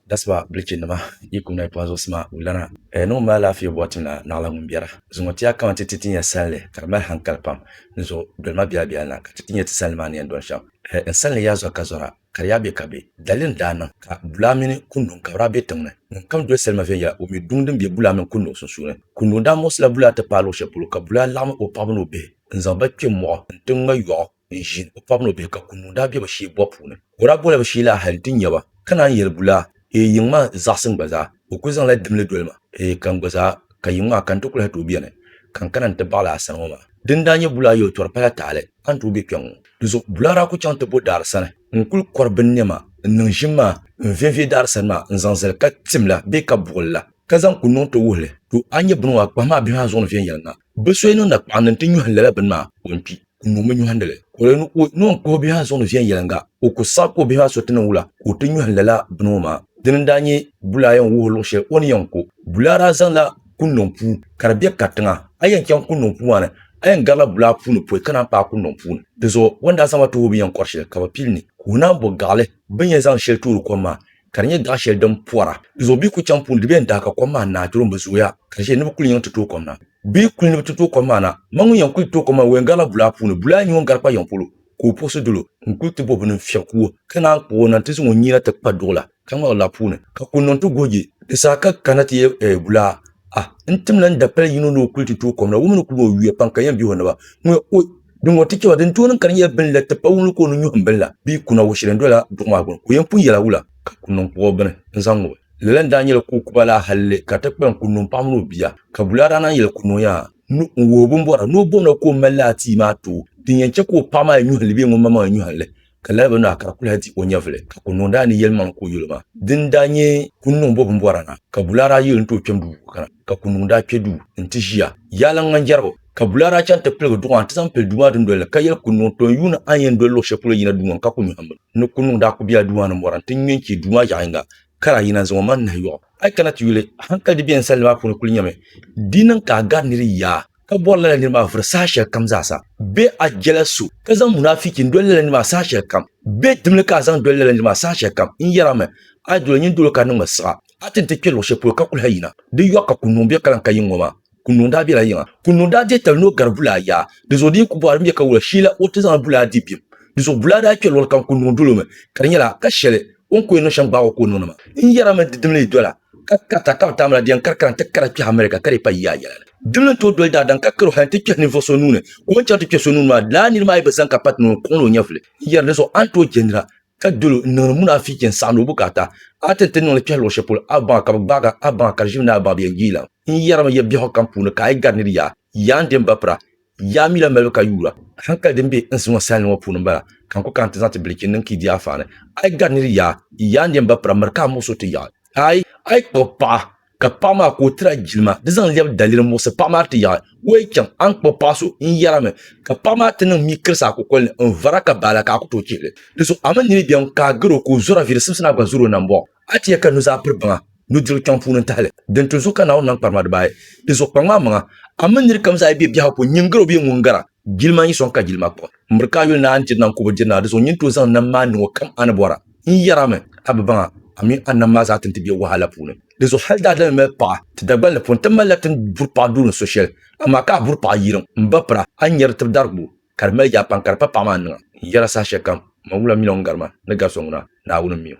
Dasiba bilichi nima yi kum na yi pɔn zuɣu sima o lana. Ɛɛ ni ŋun mali alaafee bɔri tim la naɣila ŋun biɛra. Zuŋɔ ti ya kaman ti ti ti nya sanli ka di mali hankali pam ni zuɣu doli ma biɛla biɛla na ka ti ti nya ti sanli maa ni yɛn dɔni shɛm. Ɛɛ n sanli ya zɔri ka zɔra ka di ya be ka be. Dalili n daa niŋ ka bulaa mini kunduŋ ka bi daa be tiŋ ni. Ŋun kam doli salima viɛnyɛla o mi duŋ din be bulaa mini kunduŋ sunsuuni. Kunduŋ daa muɣisila bulaa ti paai luɣi shɛli polo ka bulaa laɣim o paɣaba ni o bihi n zaŋ ba kpe mɔɣu n ti ŋma yɔɣu. n ʒiin o paɣaba ni o bihi ka kuŋ daa bɛ bi shee bɔbu puuni ka o daa bɔla bi shee laa hali n ti nyɛ ba ka naan yɛli bulaa ee yiŋ maa n zaɣisi n gba zaa o kuli zaŋla dimli doli ma ee ka n gba zaa ka yiŋ maa ka n ti kuli ha tooi bɛni ka n kana n ti baɣili a sani ŋɔ maa din daa nyɛ bulaa yɛli tɔri pala tahali a ni tooi bɛ kpɛŋ ŋɔ di zuɣu bulaa daa kuli chaŋ ti bo daari sani n kuli kɔri bin nɛma n niŋ ʒim maa n viɛviɛ daari sani maa n zaŋ zali ka tim la bee ka buɣili la ka zaŋ kuli niŋ ti wuhi li to a ni nyɛ bini ŋɔ a kpahimi a bihi maa zuɣu ni viɛnyɛliŋga bi so yi niŋ nakpaɣindi n ti nyuhi lala bini maa o ni kpi n niŋ mi nyɔhindi li. O lee niŋ ka o bihi maa suŋdi viɛnyɛliŋga, o ku saɣi ka o bihi maa so ti niŋ wula ka o ti nyɔhi lala bini ŋɔ maa. Dini n-daa nyɛ bulaa yɛn wuhi luɣ shɛli o ni yɛn ku. Bulaa daa zaŋla kunniŋ puu ka di be katiŋa. A yɛn chaŋ kunniŋ puu maa ni, a yɛn garila bulaa puuni pɔi ka naan paai kunniŋ puu ni. Di zuɣu o ni daa zaŋ ba tuhi o binyɛn kɔri shɛli ka bɛ pili ni ka o naan bo gaɣili binyɛn zaŋ shɛli toori kom maa ka di nyɛ daɣ shɛli din pɔra di zuɣu bɛ yi kuli chaŋ puuni di bɛn daa ka kom maa naai doro m-bi zooya ka di ʒiya ni bɛ kuli yiŋ ti tooi kom na bɛ yi kuli ni bɛ ti tooi kom maa na ma ŋun yɛn kuli tooi kom maa o yɛn garila bulaa puuni bulaa n-nyɛ ŋun gari kpa yiŋ polo ka o puɣisi dolo n-kuli ti bɔbi o nini fiɛb kuwo ka naan kpuɣi o nani ti zaŋ o nyina ti kpa duɣila ka ŋmɛɣi laa puuni ka kuli niŋ ti goji di saha ka kana ti yɛ bulaa Ah, n tim la n dapali yino ni o kuli ti tooi kom la, wumi ni kuli o yuya pam ka yɛn bihi o naba. Ŋuya, o, din ŋɔ ti chɛ ba, din tooi niŋ ka di nyɛla bini la ti pa wumli ka o ni nyuhim bini la, bee kuna wɔ shɛli n-dola duɣu maa gbini, ka o yɛn pun yɛla wula? Ka ku niŋ kpuɣɔ bini n-zaŋ ŋubi. Lala n-daa nyɛla ka o kuba la halli ka ti kpalim kuli niŋ paɣa mini o bia. Ka Bulaaraana yɛli kuli niŋ ya ni o wuhi bimbɔra ni o bom la ka o mali la atii maa tooi, din yɛn chɛ ka o paɣa maa yɛn nyuhi li bee ŋun ma maŋ yɛn nyuhi li. ka lala bi nahi ka di kuli hal di o nyɛvili, ka kuli niŋdi a ni yɛlimaŋli ka o yuli ma. Dini daa nyɛ kuni niŋ bɔ bimbɔra na, ka Bulaa daa yuli nti o kpɛm duu ka na, ka kuli niŋdi a kpe duu nti ʒiya yaaliŋ ŋan jɛrigu. Ka Bulaa daa chaŋ nti piligi duɣa nti zaŋ pili duu maa dundoli ni, ka yɛli kuli niŋ tɔ n yuuni a ni yɛn doli luɣ shɛli polo yina duu ŋɔ ni ka kuli nyɔhim mi ni kuli niŋdi a kuli bela duu maa ni mɔra nti ŋme n-chɛ duu maa yaɣ yiŋga ka daa yina n-zaŋ o maŋ nahi yɔɣ a yi kana ti yuli. Hankali di beni salli maa puuni kuli nyɛmi di niŋ ka a gari nir yaa. ka bɔri lala niri maa vuri saha shɛli kam zaasa bɛ a jɛla so ka zaŋ munafiki n doli lala niri maa saha shɛli kam bɛ dimli ka a zaŋ doli lala niri maa saha shɛli kam n yɛra mi a yi doli nyin dolo ka niŋmi siɣa a ti ni ti kpɛ luɣ shɛli polo ka kuli ha yina di yɔɣu ka kunnuŋ bɛ kaliŋ ka yiŋ ŋɔ maa kunnuŋ daa bɛla yiŋa kunnuŋ daa deei tali ni o gari bulaa yaa di zuɣu di yi ku bɔhiri din bɛ ka wula sheela o ti zaŋla bulaa di bim di zuɣu bulaa daa kpɛ luɣili kam kunnuŋ dolo mi ka di nyɛla ka shɛli O ni ku yɛn niŋ shɛm gbaag o ka o niŋdi ma. N yɛrimi di dimli yi dola ka karita ka bi tam la di yɛn karikara n-ti kara kpɛhi America ka di pa yiya yɛla ni. Dimli n-tooi doli daadam ka karo hal n-ti kpɛhi ninvuɣ so nuu ni ka o ni chɛri ti kpɛ so nuu ni maa, lala nir maa yi bi zani ka pati ni o ni kɔŋli o nyɛvuli. N yɛri di zuɣu a ni tooi je nira ka dol o n-niŋdi munaafichi n-saɣindi o bukaata. A ti ni ti niŋli kpɛhi luɣ shɛli polo a baŋa ka bi gbaag a, a baŋa ka di ʒimi ni a baŋa bi yɛn yiilam. N yɛrimi ya biɛhigu kam puuni ka a yi gari nir yaa, yaa n-di n ba pira, Yaa mi la malibu ka yuura hankali din be n si ŋɔ salinli ŋɔ puuni m-bala, ka n ku kana ti zaŋ ti bilichi niŋ Kidia Afaa ni. A yi gari nir yaa, yi yaa n-yen ba pira miri ka a muɣisi o ti yaɣi. Aai! A yi kpuɣi paɣa, ka paɣa maa ka o tiri a jilima, di zaŋ lɛbi daliri n-muɣisi paɣa maa ti yaɣi. O yi chaŋ, a ni kpuɣi paɣ so, n yɛrimi, ka paɣ maa ti niŋ mii kirisi a kukol ni, n vara ka baala ka a ku tooi chihi li. Di zuɣu a mi nini beni ka a gar o ka o zɔra viiri simsi ni a gba zɔr o nambɔɣu? A ti yɛ ka nuzaa piri baŋa, nudirigu kpiɔŋ puuni n-tahi li. Din ti zuɣu ka Naawuni nam kparima dibaayi, Di zuɣu kpaŋ maa maŋa, a mini nir kam zaa yi be biɛhigu puuni, nyin gar o bee ŋun gar a, jilima n-yi sɔŋ ka jilima kpaŋ. M biri ka a yuli ni a ni diri nam kubu diri ni a di zuɣu nyin tooi zaŋ nam maa niŋ o kam a ni bɔra. N yɛr a mi, a bi baŋ a, a mi a nam maa zaa ti ni ti be wahala puuni. Di zuɣu hal daadama mali paɣa ti dagbal ni puuni, ti malila ti ni buri paɣa duu ni so shɛli, amaa ka a buri paɣa yirim, m ba pira, a ni nyari di tib dari gbubu, ka di mali yaa pam ka di pa paɣa maa niŋa. N yɛr a sahashɛlikam, Mangula mini o ni gar ma ni gar so ŋuna, Naawuni m-mi o.